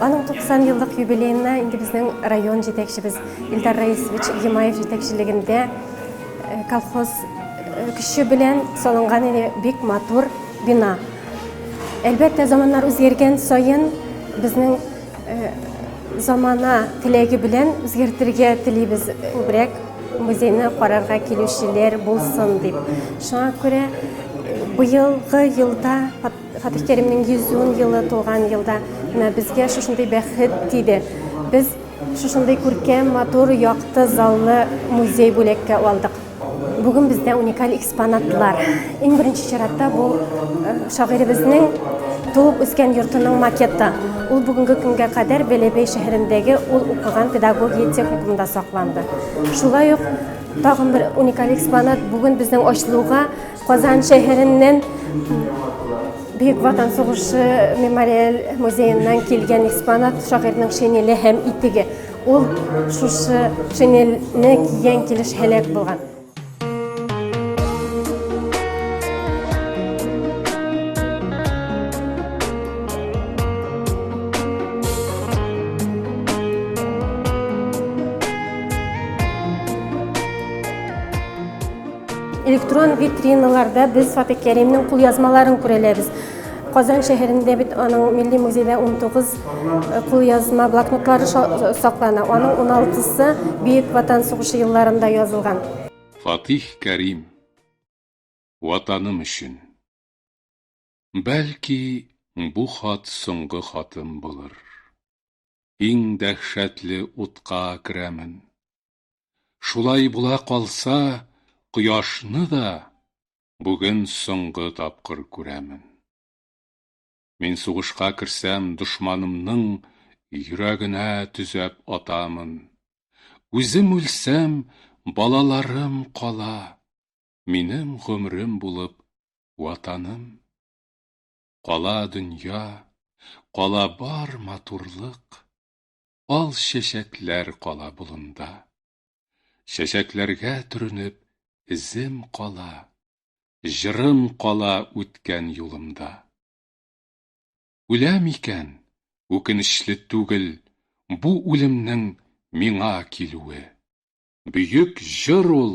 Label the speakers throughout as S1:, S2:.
S1: Аның 90 еллык юбилеена инде безнең район җитәкчебез Илдар Раисович Гимаев җитәкчелегендә колхоз көче белән салынган иде бик матур бина. Әлбәттә, заманнар үзгәргән саен безнең замана теләге белән үзгәртергә телибез күбрәк музейны карарга килүчеләр булсын дип. Шуңа күрә быелгы елда Фатих Кәримнең 110 елы тулган елда менә безгә шушындый бәхет тиде. Без шушындый күркәм, матур, якты, заллы музей бүләккә алдык. Бүген бездә уникаль экспонатлар. Иң беренче чиратта бу э, шагыйребезнең туып үскән йортының макеты. Ул бүгенге көнгә кадәр Бәләбәй шәһәрендәге ул укыган педагогия техникумында сакланды. Шулай ук тагын бер уникаль экспонат бүген безнең ачылуга Казан шәһәреннән Бөек Ватан сугышы мемориаль музееннан килгән экспонат шагыйрьнең шинеле һәм итеге. Ул шушы шинельне кигән килеш һәлак булган. Электрон витриналарда без Фатык Кәримнең кулъязмаларын күрәләбез. Казан шәһәрендә бит аның милли музейда 19 э, кулъязма блокнотлары саклана. Аның 16-сы Бөек Ватан сугышы елларында язылган. Фатих
S2: Кәрим Ватаным өчен. Бәлки, бу хат соңгы хатым булыр. Иң дәһшәтле утка керәмен. Шулай була калса, кояшны да бүген соңгы тапкыр күрәмен. Мин сугышка керсәм, дошманымның йөрәгенә төзәп атамын. Үзем үлсәм, балаларым кала, минем гомерем булып ватаным. Кала дөнья, кала бар матурлык. ал чәчәкләр кала болында. Чәчәкләргә төренеп, эзем кала, җырым кала үткән юлымда. Үләм икән, үкенечле түгел, бу үлемнең миңа килүе. Бөек җыр ул,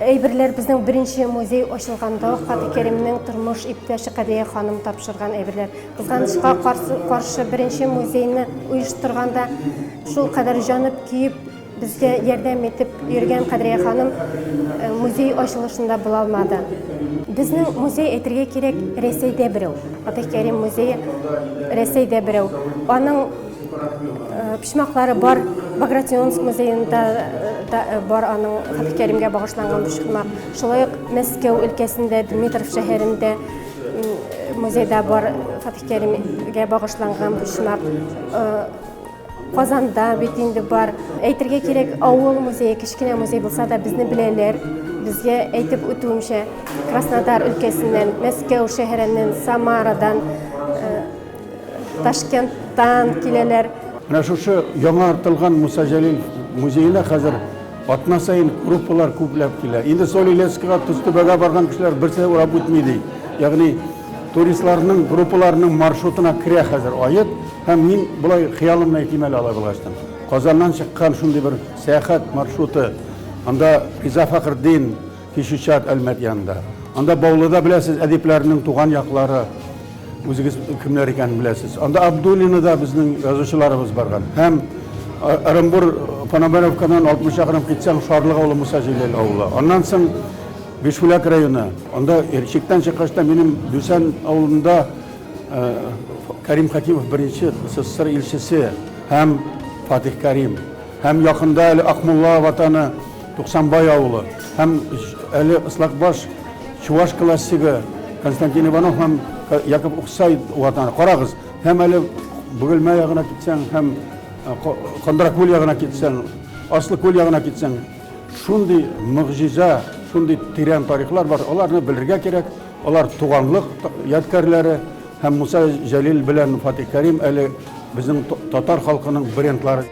S1: Әйберләр безнең беренче музей ачылганда Хаты Кәримнең тормыш иптәше Кадия ханым тапшырган әйберләр. Кызганычка каршы беренче музейны оештырганда шул кадәр җанып киеп безгә ярдәм итеп йөргән Кадрия ханым э, музей ачылышында була алмады. Безнең музей әйтергә кирәк Рәсәйдә берәү. Фатих Кәрим музее Рәсәйдә берәү. Аның почмаклары бар багратионск музеенда да бар аның хәтфикәримгә багышланган почмак шулай ук мәскәү өлкәсендә дмитров шәһәрендә музейда бар хәтфикәримгә багышланган почмак казанда бит инде бар әйтергә кирәк авыл музее кечкенә музей булса да безне беләләр безгә әйтеп үтүемчә краснодар өлкәсеннән мәскәү шәһәреннән самарадан Ташкенттан киләләр. Менә шушы
S3: яңа артылган Муса Җәлил музеена хәзер атна саен группалар күпләп килә. Инде Соль Илецкига, Тозтүбәгә барган кешеләр берсе урап үтми ди. Ягъни туристларның группаларының маршрутына керә хәзер Аек. Һәм мин болай хыялымны әйтим әле алай булгач та. Казаннан чыккан шундый бер сәяхәт маршруты. Анда Риза Фәхретдин, Кече Чат, Әлмәт янында. Анда Баулыда беләсез, әдипләрнең туган яклары, үзегез кемнәр икәнен беләсез. Анда Абдуллина да безнең язучыларыбыз барган. Һәм Ырымбур Пономаровкадан 60 чакрым китсәң, Шарлык авылы Муса Җәлил авылы. Аннан соң Бишбүләк районы. Анда Ирчектән чыккач та минем Дүсән авылында Кәрим Хәкимов беренче СССР илчесе һәм Фатих Кәрим. Һәм якында әле Акмулла ватаны Туксанбай авылы һәм әле Ыслакбаш чуваш классигы Константин Иванов һәм Яков Уксай ватаны. Карагыз, һәм әле Бөгелмә ягына китсәң, һәм Кондракүл ягына китсәң, Аслы күл ягына китсәң, шундый мөгъҗиза, шундый тирән тарихлар бар, аларны белергә кирәк, алар туганлык ядкәрләре, һәм Муса Җәлил белән Фатих Кәрим әле безнең татар халкының брендлары.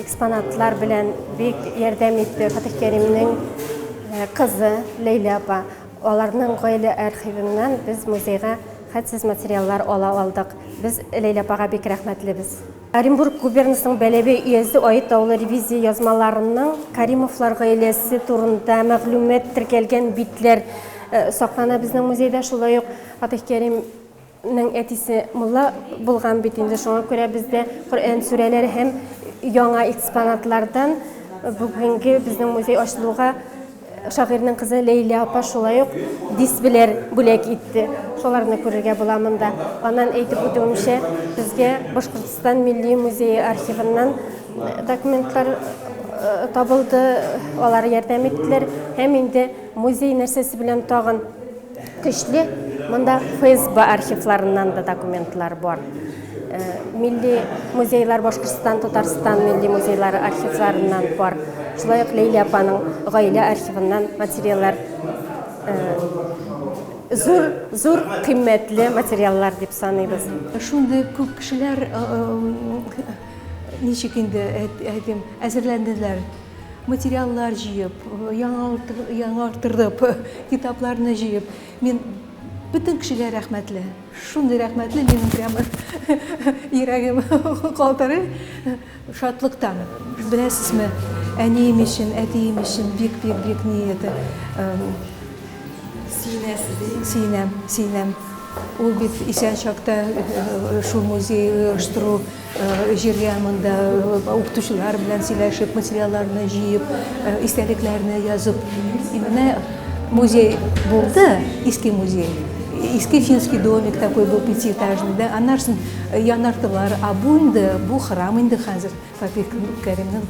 S1: Экспонатлар белән бик ярдәм итте Фатих Кәримнең э, кызы Ләйлә апа. Аларның гаилә архивыннан без музейга хәтсез материаллар ала алдык. Без Ләйлә апага бик рәхмәтлебез. Оренбург губернасының Бәләбәй өязе Ает авылы ревизия язмаларының Каримовлар гаиләсе турында мәгълүмат теркәлгән битләр э, саклана безнең музейда. Шулай ук Фатих Кәрим Нең әтисе мулла булган бит инде, шуңа күрә бездә Коръән сүрәләре һәм яңа экспонатлардан бүгенге безнең музей ачылуга шагыйрьнең кызы Ләйлә апа шулай ук дисплейлар бүләк итте. Шуларны күрергә була монда. Аннан әйтеп үтүемчә, безгә Башкортстан милли музее архивыннан э, документлар э, табылды, алар ярдәм иттеләр һәм инде музей нәрсәсе белән тагын Көчле, монда ФСБ архивларыннан да документлар бар. Э, милли музейлар Башкортстан, Татарстан милли музейлары архивларыннан бар. Шулай ук Лейлә апаның гаилә архивыннан материаллар э, зур зур кыйммәтле материаллар дип саныйбыз. Шундый күп
S4: кешеләр э, ничек инде әйтим, әзерләнделәр. материаллар җыеп, яңартырып, китапларны җыеп, мин бөтен кешегә рәхмәтле. Шундый рәхмәтле, минем прямо йөрәгем калтырый шатлыктан. Беләсезме, әнием өчен, әтием өчен бик-бик-бик ни это сөенәм, сөенәм. Ул бит исән чакта шул музей оештыру Җиргә монда укытучылар белән сөйләшеп, материалларны җыеп, истәлекләрне язып. Менә музей булды, иске музей. Иске финский домик такой был пятиэтажный, да, аннарсын янартылар, а бу инде, бу храм инде хәзер, Фатих Кәримнең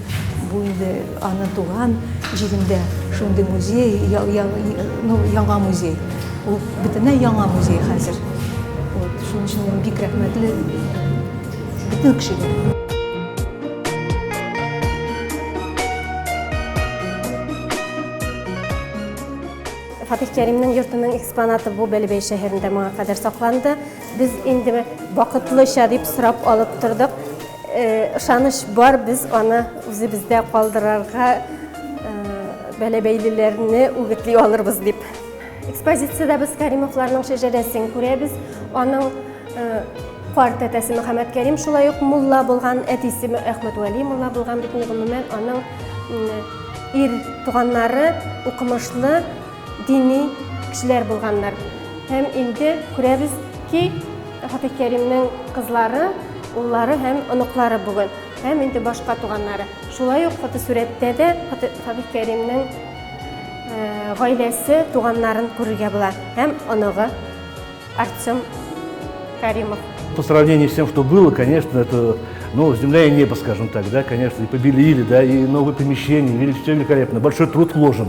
S4: бу инде Аны туган җирендә шундый музей, я, я, ну, яңа музей. Ул бөтенләй яңа музей хәзер. Вот, шуның өчен мин бик рәхмәтле бөтен кешегә.
S1: Фатих Кәримнең йортының экспонаты бу Бәлебәй шәһәрендә моңа кадәр сакланды. Без инде вакытлыча дип сорап алып тордык. Ышаныч бар, без аны үзебездә калдырырга бәләбәйлеләрне үгетли алырбыз дип. Экспозициядә без Кәримовларның шәҗәрәсен күрәбез. Аның карт әтәсе Мөхәммәд Кәрим шулай ук мулла булган, әтисе Әхмәт Вәли мулла булган бит. Гомумән, аның ир туганнары укымышлы, Дини кешеләр булганнар. Һәм инде күрәбез ки, Фатих Кәримнең кызлары, уллары һәм оныклары бүген. Һәм инде башка туганнары. Шулай ук фотосурәттә дә Фатих Кәримнең э, гаиләсе, туганнарын күрергә була. Һәм оныгы Артем Каримов. По сравнению
S5: с тем, что было, конечно, это ну, земля и небо, скажем так, да, конечно, и побелили, да, и новые помещения, величественно великолепно, большой труд вложен.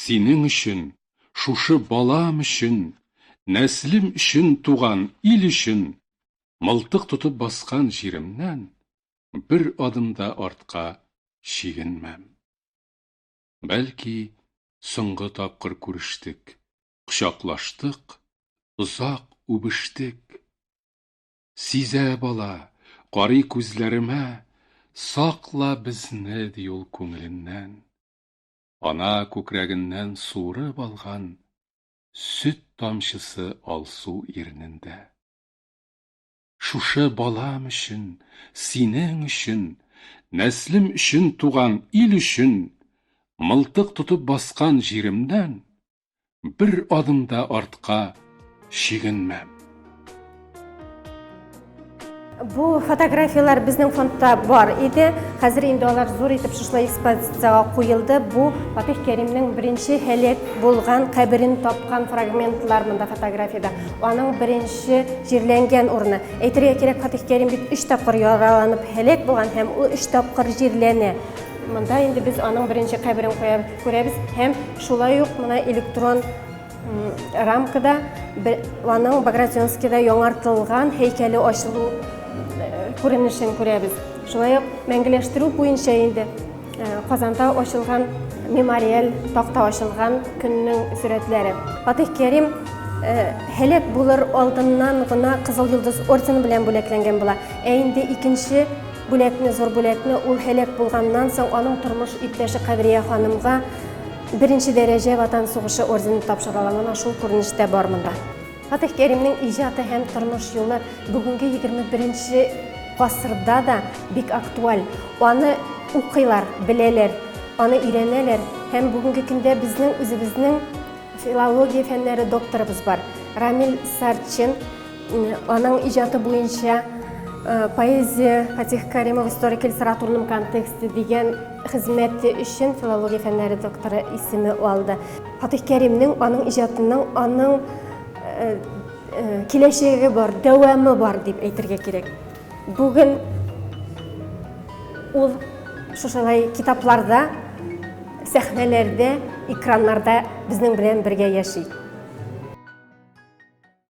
S2: Синең өчен, шушы балам өчен, нәслем өчен туган ил өчен, мылтык тотып баскан җиремнән бер адым да артка чигенмәм. Бәлки, соңгы тапкыр күрештек, кочаклаштык, озак үбештек. Сизә бала, карый күзләремә, сакла безне, ди ул күңеленнән. Ана күкрәгеннән суырып алган сөт тамчысы алсу ирнендә. Шушы балам өчен, синең өчен, нәслем өчен туган ил өчен, мылтык тотып баскан җиремнән бер адым да артка чигенмәм.
S1: Бу фотографияләр безнең фондта бар иде. Хәзер инде алар зур итеп шушылай экспозициягә куелды. Бу Фатих Кәримнең беренче һәлак булган каберен тапкан фрагментлар монда фотографиядә. Аның беренче җирләнгән урыны. Әйтергә кирәк, Фатих Кәрим бит 3 тапкыр яраланып һәлак булган һәм ул 3 тапкыр җирләнә. Монда инде без аның беренче каберен куябыз. Күрәбез һәм шулай ук менә электрон рамкада аның Багратионскийда яңартылган һәйкәле ачылу күренешен күрәбез. Шулай ук мәңгеләштерү буенча инде Казанда ачылган мемориаль такта ачылган көннең сурәтләре. Фатих Кәрим һәлак булыр алдыннан гына Кызыл йолдыз ордены белән бүләкләнгән була. Ә инде икенче Бүләкне, зур бүләкне ул һәлак булганнан соң аның тормыш иптәше Кадрия ханымга беренче дәрәҗә Ватан сугышы ордены тапшыралар. Менә шул күренеш тә бар монда. Фатих Кәримнең иҗаты һәм тормыш юлы бүгенге 21 нче гасырда да бик актуаль. Аны укыйлар, беләләр, аны өйрәнәләр. Һәм бүгенге көндә безнең үзебезнең филология фәннәре докторыбыз бар, Рамил Сарчин. Аның иҗаты буенча поэзия Фатих Каримов историк литературным контексте дигән хезмәте өчен филология фәннәре докторы исеме алды. Фатих Кәримнең аның иҗатының аның киләчәге бар, дәвамы бар дип әйтергә кирәк. Бүген ул шушылай китапларда, сәхнәләрдә, экраннарда безнең белән бергә яши.